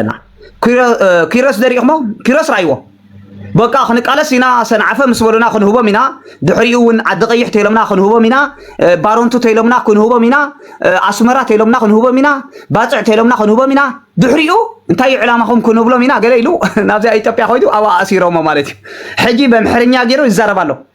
ኣለና ኪሮስ ደሪእኹሞ ኪሮስ ራይዎ በቃ ክንቃለስ ኢና ሰንዓፈ ምስ በሉና ክንህቦም ኢና ድሕሪኡ እውን ዓዲ ቀይሕ ተይሎምና ክንህቦም ኢና ባሮንቱ ተይሎምና ክንህቦም ኢና ኣስመራ ተይሎምና ክንህቦም ኢና ባፅዕ ተይሎምና ክንህቦም ኢና ድሕሪኡ እንታይ እዩ ዕላማኹም ክንብሎም ኢና ገለ ኢሉ ናብዚኣ ኢትዮጵያ ኮይዱ ኣብኣ ኣሲሮሞ ማለት እዩ ሕጂ በምሕርኛ ገይሩ ይዛረብ ኣሎ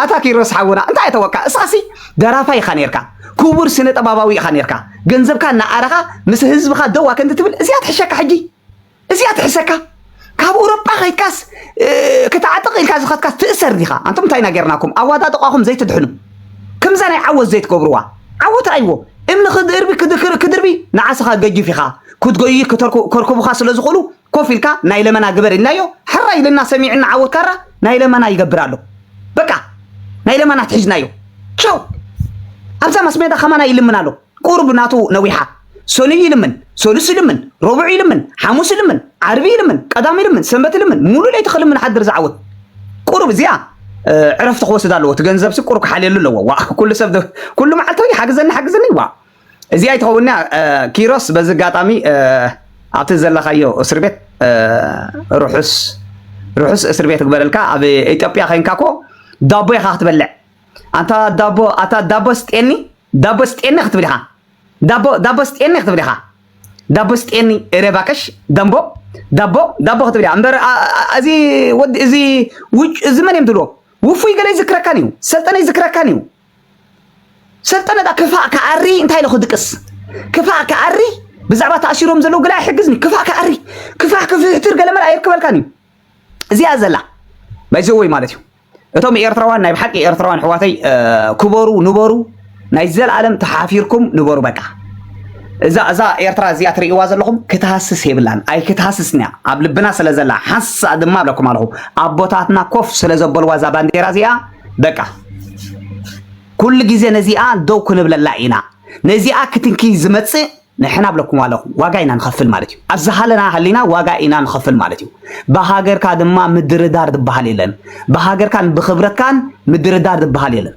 ኣታ ኪሮስ ሓውና እንታይ ኣተወካ እስኻሲ ደራፋይ ኢኻ ነርካ ክቡር ስነ ጥበባዊ ኢኻ ነርካ ገንዘብካ እናኣረኻ ምስ ህዝብኻ ደው ኣከንቲ ትብል እዚኣ ትሕሸካ ሕጂ እዚኣ ትሕሰካ ካብ ኣውሮጳ ከይድካስ ክትዓጥቕ ኢልካ ዝኸትካስ ትእሰር ዲኻ ኣንቶም እንታይ ኢና ጌርናኩም ኣዋዳጥቋኹም ዘይትድሕኑ ከምዛ ናይ ዓወት ዘይትገብርዋ ዓወት ራይዎ እምኒ ክድርቢ ክድርቢ ንዓስኻ ገጅፍ ኢኻ ክትጎይ ከርኩቡኻ ስለ ዝኾኑ ኮፍ ኢልካ ናይ ለመና ግበር ኢልናዮ ሕራይ ኢልና ሰሚዕና ዓወት ካራ ናይ ለመና ይገብር ኣሎ በቃ ናይ ለመና ትሒዝናዮ ቻው ኣብዛ ማስሜዳ ከማና ይልምን ኣሎ ቁርብ ናቱ ነዊሓ ሰኑይ ይልምን ሰሉስ ይልምን ረቡዕ ይልምን ሓሙስ ይልምን ዓርቢ ይልምን ቀዳም ይልምን ሰንበት ይልምን ሙሉ ለይቲ ክልምን ሓድር ዝዓወት ቁርብ እዚኣ ዕረፍቲ ክወስድ ኣለዎ እቲ ገንዘብ ቁርብ ክሓልየሉ ኣለዎ ዋ ኩሉ ሰብ ኩሉ መዓልቲ ሓግዘኒ ሓግዘኒ ዋ እዚኣ ኣይትኸውን እያ ኪሮስ በዚ ኣጋጣሚ ኣብቲ ዘለኻዮ እስር ቤት ርሑስ ርሑስ እስር ቤት ክበለልካ ኣብ ኢትዮጵያ ኮይንካ እኮ ዳቦ ኢኻ ክትበልዕ ኣንታ ዳቦ ኣታ ዳቦ ስጤኒ ዳቦ ስጤኒ ክትብል ኢኻ ዳቦ ዳቦ ስጤኒ ክትብል ኢኻ ዳቦ ስጤኒ እረ ባክሽ ደንቦ ዳቦ ዳቦ ክትብል እያ እምበር እዚ ወዲ እዚ ውጭ እዚ መን እዮም ትብልዎ ውፉይ ገለ ይዝክረካን እዩ ሰልጠነ ይዝክረካን እዩ ሰልጠነታ ክፋእ ክኣሪ እንታይ ኢሉ ክድቅስ ክፋእ ክኣሪ ብዛዕባ ተኣሲሮም ዘለዉ ገለ ኣይሕግዝን እዩ ክፋእ ክኣሪ ክፋሕ ክፍሕትር ገለ መለ ኣየርከበልካን እዩ እዚኣ ዘላ ባይዘወይ ማለት እዩ እቶም ኤርትራውያን ናይ ብሓቂ ኤርትራውያን ኣሕዋተይ ክበሩ ንበሩ ናይ ዘለኣለም ተሓፊርኩም ንበሩ በቃ እዛ እዛ ኤርትራ እዚኣ ትርእይዋ ዘለኹም ክትሃስስ የብላን ኣይ ክትሃስስን እያ ኣብ ልብና ስለ ዘላ ሓንሳ ድማ እብለኩም ኣለኹ ኣቦታትና ኮፍ ስለ ዘበልዋ እዛ ባንዴራ እዚኣ በቃ ኩሉ ግዜ ነዚኣ ደው ክንብለላ ኢና ነዚኣ ክትንኪ ዝመጽእ ንሕና ብለኩም ኣለኹ ዋጋ ኢና ንኸፍል ማለት እዩ ኣብ ዝሃለና ሃሊና ዋጋ ኢና ንኸፍል ማለት እዩ ብሃገርካ ድማ ምድርዳር ዝበሃል የለን ብሃገርካን ብክብረትካን ምድርዳር ዝበሃል የለን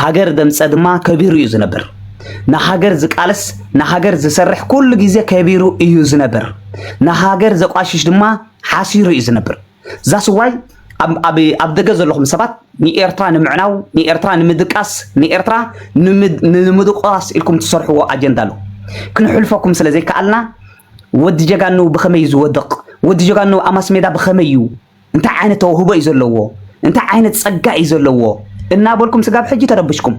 ሃገር ደምጸ ድማ ከቢሩ እዩ ዝነብር። ንሃገር ዝቃለስ ንሃገር ዝሰርሕ ኩሉ ግዜ ከቢሩ እዩ ዝነብር። ንሃገር ዘቋሽሽ ድማ ሓሲሩ እዩ ዝነብር። ዛስዋይ ኣብ ደገ ዘለኹም ሰባት ንኤርትራ ንምዕናው ንኤርትራ ንምድቃስ ንኤርትራ ንምድቋስ ኢልኩም ትሰርሕዎ ኣጀንዳ ኣሎ ክንሕልፈኩም ስለ ዘይከኣልና ወዲ ጀጋኑ ብኸመይ ዝወድቕ ወዲ ጀጋኑ ኣብ ማስሜዳ ብኸመይ እዩ እንታይ ዓይነት ተውህቦ እዩ ዘለዎ፣ እንታይ ዓይነት ጸጋ እዩ ዘለዎ እናበልኩም ስጋብ ሕጂ ተረብሽኩም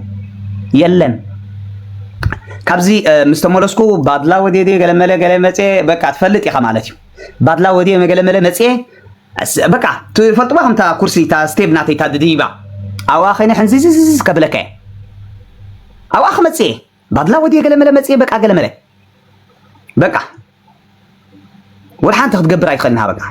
የለን። ካብዚ ምስ ተመለስኩ ባድላ ወድየ ድየ ገለመለ ገለ መፅየ በቃ ትፈልጥ ኢኻ ማለት እዩ ባድላ ወድየ መገለመለ መፅየ በቃ ትፈልጥዋ ከምታ ኩርሲ እታ ስቴብ ናተይ እታ ድድይባ ኣብኣ ከይነ ሕንዚዝዝዝ ከብለካ እየ ኣብኣ ክመፅእ እየ ባድላ ወድየ ገለመለ መጽየ በቃ ገለመለ በቃ ወላ ሓንቲ ክትገብር ኣይትኽእልን ሃበቃ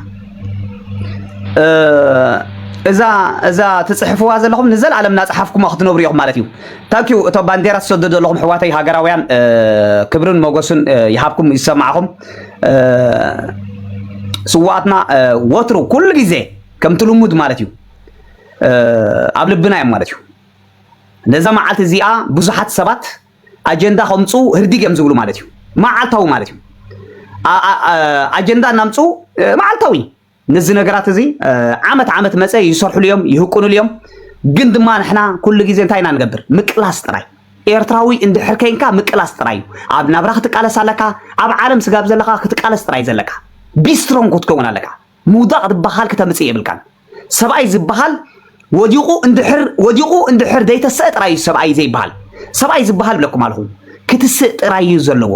እዛ እዛ ትጽሕፍዋ ዘለኹም ንዘለኣለም እናጽሓፍኩማ ክትነብሩ ኢኹም ማለት እዩ ታንኪዩ እቶ ባንዴራ ትሰዱ ዘለኹም ሕዋተይ ሃገራውያን ክብርን መጎስን ይሃብኩም ይሰማዕኹም ስዋኣትና ወትሩ ኩሉ ግዜ ከምቲ ልሙድ ማለት እዩ ኣብ ልብና እዮም ማለት እዩ ነዛ መዓልቲ እዚኣ ብዙሓት ሰባት ኣጀንዳ ከምፁ ህርዲግ እዮም ዝብሉ ማለት እዩ። መዓልታዊ ማለት እዩ። ኣጀንዳ እናምፁ መዓልታዊ ነዚ ነገራት እዚ ዓመት ዓመት መፀ ይሰርሕሉ እዮም ይህቁንሉ እዮም። ግን ድማ ንሕና ኩሉ ግዜ እንታይ ኢና ንገብር? ምቅላስ ጥራይ ኤርትራዊ እንድሕር ከይንካ ምቅላስ ጥራይ እዩ። ኣብ ናብራ ክትቃለስ ኣለካ። ኣብ ዓለም ስጋብ ዘለካ ክትቃለስ ጥራይ ዘለካ ቢስትሮን ክትከውን ኣለካ። ምውዳቕ ድባሃል ክተምጽእ የብልካን ሰብኣይ ዝባሃል ወዲቑ እንድሕር ወዲቑ እንድሕር ዘይተሰእ ጥራይ እዩ ሰብኣይ ዘይባሃል ሰብኣይ ዝባሃል ብለኩም ኣለኹ ክትስእ ጥራይ እዩ ዘለዎ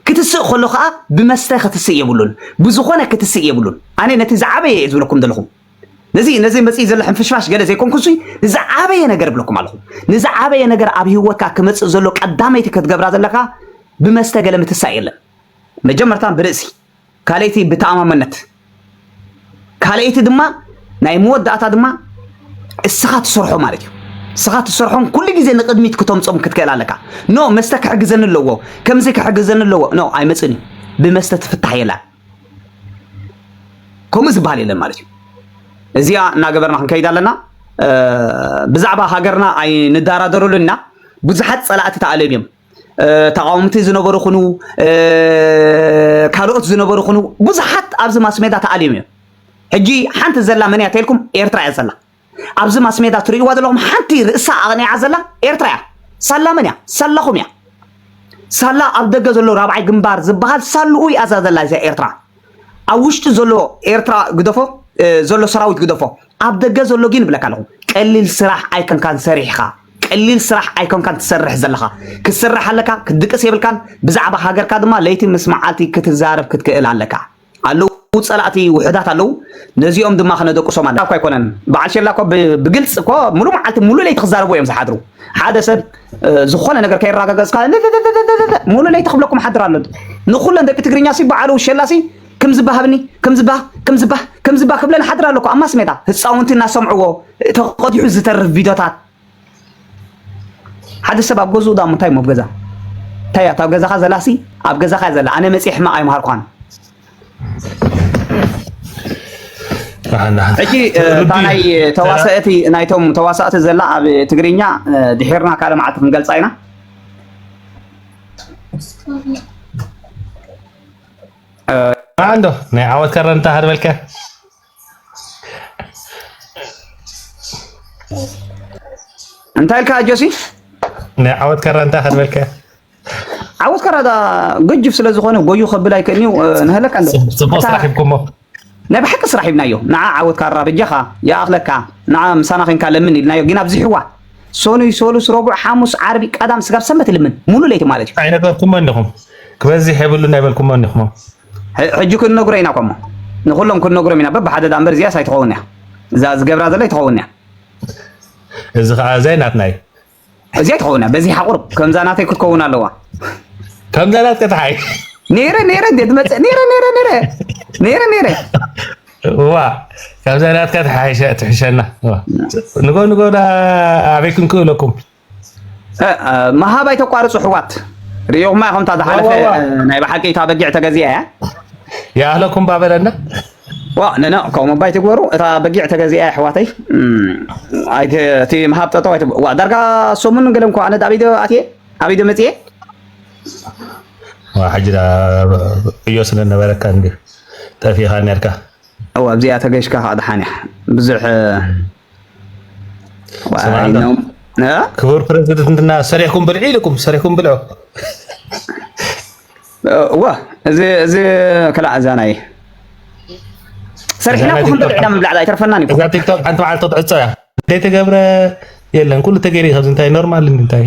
ክትስእ ከሎ ከኣ ብመስተ ክትስእ የብሉን ብዝኾነ ክትስእ የብሉን ኣነ ነቲ ዝዓበየ እየ ዝብለኩም ዘለኹ ነዚ ነዚ መጽኢ ዘሎ ሕንፍሽፋሽ ገለ ዘይኮንኩ ሲ ንዝዓበየ ነገር ብለኩም ኣለኹ ንዝዓበየ ነገር ኣብ ሂወትካ ክመጽእ ዘሎ ቀዳመይቲ ክትገብራ ዘለካ ብመስተ ገለ ምትሳእ የለን መጀመርታ ብርእሲ ካልኣይቲ ብተኣማመነት ካልኣይቲ ድማ ናይ መወዳእታ ድማ እስኻ ትሰርሖ ማለት እዩ እስኻ ትሰርሖም ኩሉ ግዜ ንቅድሚት ክተምፆም ክትክእል ኣለካ ኖ መስተ ክሕግዘኒ ኣለዎ ከምዚ ክሕግዘኒ ኣለዎ ኖ ኣይመፅን እዩ ብመስተ ትፍታሕ የላን ከምኡ ዝበሃል የለን ማለት እዩ እዚኣ እናገበርና ክንከይድ ኣለና ብዛዕባ ሃገርና ኣይንደራደረሉን ኢና ብዙሓት ፀላእቲ ተኣልዮም እዮም ተቓወምቲ ዝነበሩ ኹኑ ካልኦት ዝነበሩ ኹኑ ብዙሓት ኣብዚ ማስሜዳ ተኣልዮም እዮም። ሕጂ ሓንቲ ዘላ መን እያ ተልኩም ኤርትራ እያ ዘላ። ኣብዚ ማስሜዳ ትርእይዋ ዘለኹም ሓንቲ ርእሳ ኣቕኒዓ ዘላ ኤርትራ እያ። ሳላ መን እያ? ሳላኹም እያ። ሳላ ኣብ ደገ ዘሎ ራብዓይ ግንባር ዝበሃል ሳልኡ እያ ዘላ እዛ ኤርትራ። ኣብ ውሽጢ ዘሎ ኤርትራ ግደፎ ዘሎ ሰራዊት ግደፎ ኣብ ደገ ዘሎ ግን ይብለካ ኣለኹ ቀሊል ስራሕ ኣይከንካን ሰሪሕኻ ቀሊል ስራሕ ኣይኮንካን ትሰርሕ ዘለኻ ክትስራሕ ኣለካ ክትድቅስ የብልካን ብዛዕባ ሃገርካ ድማ ለይቲ ምስ መዓልቲ ክትዛረብ ክትክእል ኣለካ ኣለዉ ፀላእቲ ውሕዳት ኣለዉ ነዚኦም ድማ ክነደቅሶም ኣለ እኳ ኣይኮነን በዓል ሸላ እኮ ብግልፂ እኮ ሙሉእ መዓልቲ ሙሉእ ለይቲ ክዛረቡ እዮም ዝሓድሩ ሓደ ሰብ ዝኾነ ነገር ከይራገገጽካ እልልልልልልልል ሙሉ ለይቲ ክብለኩም ሓድር ኣሎ ንኩለን ደቂ ትግርኛ ሲ በዓሉ ውሸላ ሲ ክም ዝባሃብኒ ክም ዝባ ክም ዝባ ክም ዝባ ክብለን ሓድር ኣለኩ ኣብ ማስሜዳ ህፃውንቲ እናሰምዕዎ ተቐዲሑ ዝተርፍ ቪድዮታት ሓደ ሰብ ኣብ ገዝኡ ዳሞ እንታይ እሞ ኣብ ገዛ እንታይ እያ እታ ኣብ ገዛኻ ዘላ ሲ ኣብ ገዛኻ እያ ዘላ ኣነ መፂ ሕማቕ ኣይምሃርኳን ሕጂ እታ ናይ ተዋሰእቲ ናይቶም ተዋሳእቲ ዘላ ኣብ ትግርኛ ድሒርና ካልእ መዓልቲ ክንገልፃ ኢና ማዓንዶ ናይ ዓወት ከረንታ ሃርበልካ እንታይ ኢልካ ጆሲ? ናይ ዓወት ካራ እንታይ ከድበልከ? ዓወት ካራ ገጅፍ ስለ ዝኾነ ጎዩ ከብል ኣይክእልንዩ ንህለካ ፅቡቅ ስራሕ ሂብኩሞ ናይ ብሓቂ ስራሕ ሂብናዮ ንዓ ዓወት ካራ በጃኻ ይኣኽለካ ንዓ ምሳና ኮንካ ለምን ኢልናዮ ግን ኣብዚሕዋ ሰኑይ ሰሉስ ረቡዕ ሓሙስ ዓርቢ ቀዳም ስጋብ ሰንበት ልምን ሙሉ ለይቲ ማለት እዩ ኣይነገርኩሞ እንዲኹም ክበዝሕ የብሉን ኣይበልኩሞ እንዲኹም ሕጂ ክንነግሮ ኢና ኮሞ ንኩሎም ክንነግሮም ኢና በብሓደ ዳኣ እምበር እዚኣስ ኣይትኸውን እያ እዛ ዝገብራ ዘሎ ኣይትኸውን እያ እዚ ከዓ እዚይ ናትና እዩ እዚኣ ኣይትኸውን እያ በዚሓ ቁርብ ከምዛ ናተይ ክትከውን ኣለዋ ከምዛ ናትከ ተሓይ ነይረ ነይረ እንዴ ትመፅእ ነይረ ነይረ ነይረ ነይረ ነይረ እዋ ከምዛ ናትካ ትሕሸና ንጎ ንጎ ኣበይ ክንክእለኩም ምሃብ ኣይተቋርፁ ኣሕዋት ርኢኹማ ኢኹም እታ ዝሓለፈ ናይ ብሓቂ እታ በጊዕ ተገዚኣ እያ ይኣህለኩም ባበለና ዋ ነና ከምኡ ባይ ትግበሩ እታ በጊዕ ተገዚኣ ኣሕዋተይ እቲ ምሃብ ጠጠው ኣይት ዋ ዳርጋ ሰሙን ገለ እንኳ ኣነ ኣብ ኢደ ኣትየ ኣብ ኢደ መፅየ ሕጂ ዕዮ ስለ ነበረካ እንዲ ጠፊኻ ነርካ እዋ ኣብዚኣ ተገሽካ ከዓ ድሓን እያ ብዙሕ ክቡር ፕረዚደንትና ሰሪሕኩም ብልዒ ኢልኩም ሰሪሕኩም ብልዑ ዋ እዚ እዚ ከላዕ እዛ ናይ ሰሪሕና ኩኹም ብልዕና ምብላዕ ኣይተርፈናን እዩ እዛ ቲክቶክ ሓንቲ መዓልቲ ክትዕፆ እያ ዘይተገብረ የለን ኩሉ ተገይሩ እዩ ካብዚ እንታይ ኖርማል እንታይ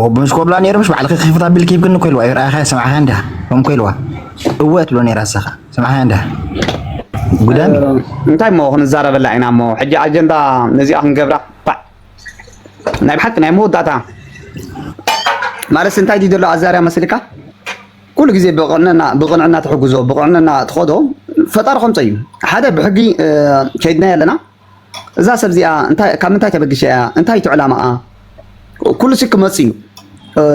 ወብምስ ኮብላ ነይሩ ምሽ ባዕልኺ ክኽፍት ኣቢልኪ ይብክኒ እኮ ኢልዋ ይርኣኻያ ሰማዕኻ እንዳ ከም እኮ ኢልዋ እወ ትብሎ ነይራ ሰኻ ሰማዕኻ እንዳ ጉዳም እንታይ እሞ ክንዛረበላ ኢና እሞ ሕጂ ኣጀንዳ ነዚኣ ክንገብራ ባዕ ናይ ብሓቂ ናይ መወዳእታ ማለት እንታይ ድዩ ዘሎ ኣዛርያ መስልካ ኩሉ ግዜ ብቕንዕና ብቕንዕና ትሕግዞ ብቕንዕና ትኸዶ ፈጣሪ ከምፀ እዩ ሓደ ብሕጊ ከይድናዮ ኣለና እዛ ሰብ እዚኣ እንታይ ካብ ምንታይ ተበጊሻ እያ እንታይ እዩ ዕላማኣ ኩሉሲ ክመጽእ እዩ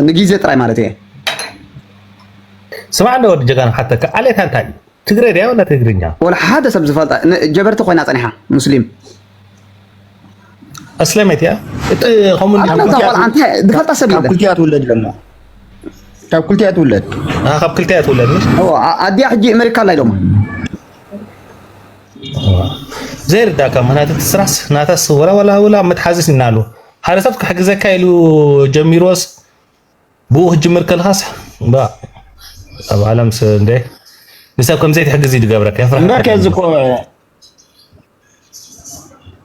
ንግዜ ጥራይ ማለት እየ ስማዕ እንደ ወዲ ጀጋኑ ሓተካ ዓሌታ እንታይ እዩ ትግረ ድያ ወላ ትግርኛ ወላ ሓደ ሰብ ዝፈልጣ ጀበርቲ ኮይና ጸኒሓ ሙስሊም ኣስለመት እያ ከምኡ ዝፈልጣ ሰብ ካብ ክልቲኣ ትውለድ ለማ ካብ ክልቲኣ ትውለድ ካብ ክልቲኣ ትውለድ ኣዲኣ ሕጂ ኣሜሪካ ኣላ ኢሎማ ዘይርዳእካ ምክንያት እቲ ስራስ ናታስ ወላ ወላ ወላ መትሓዚ ሲና ኣሎ ሓደ ሰብ ክሕግዘካ ኢሉ ጀሚርዎስ ብኡ ክትጅምር ከለኻስ ኣብ ዓለም እንደ ንሰብ ከምዘይ ትሕግዝ እዩ ዝገብረካ የፍርሓ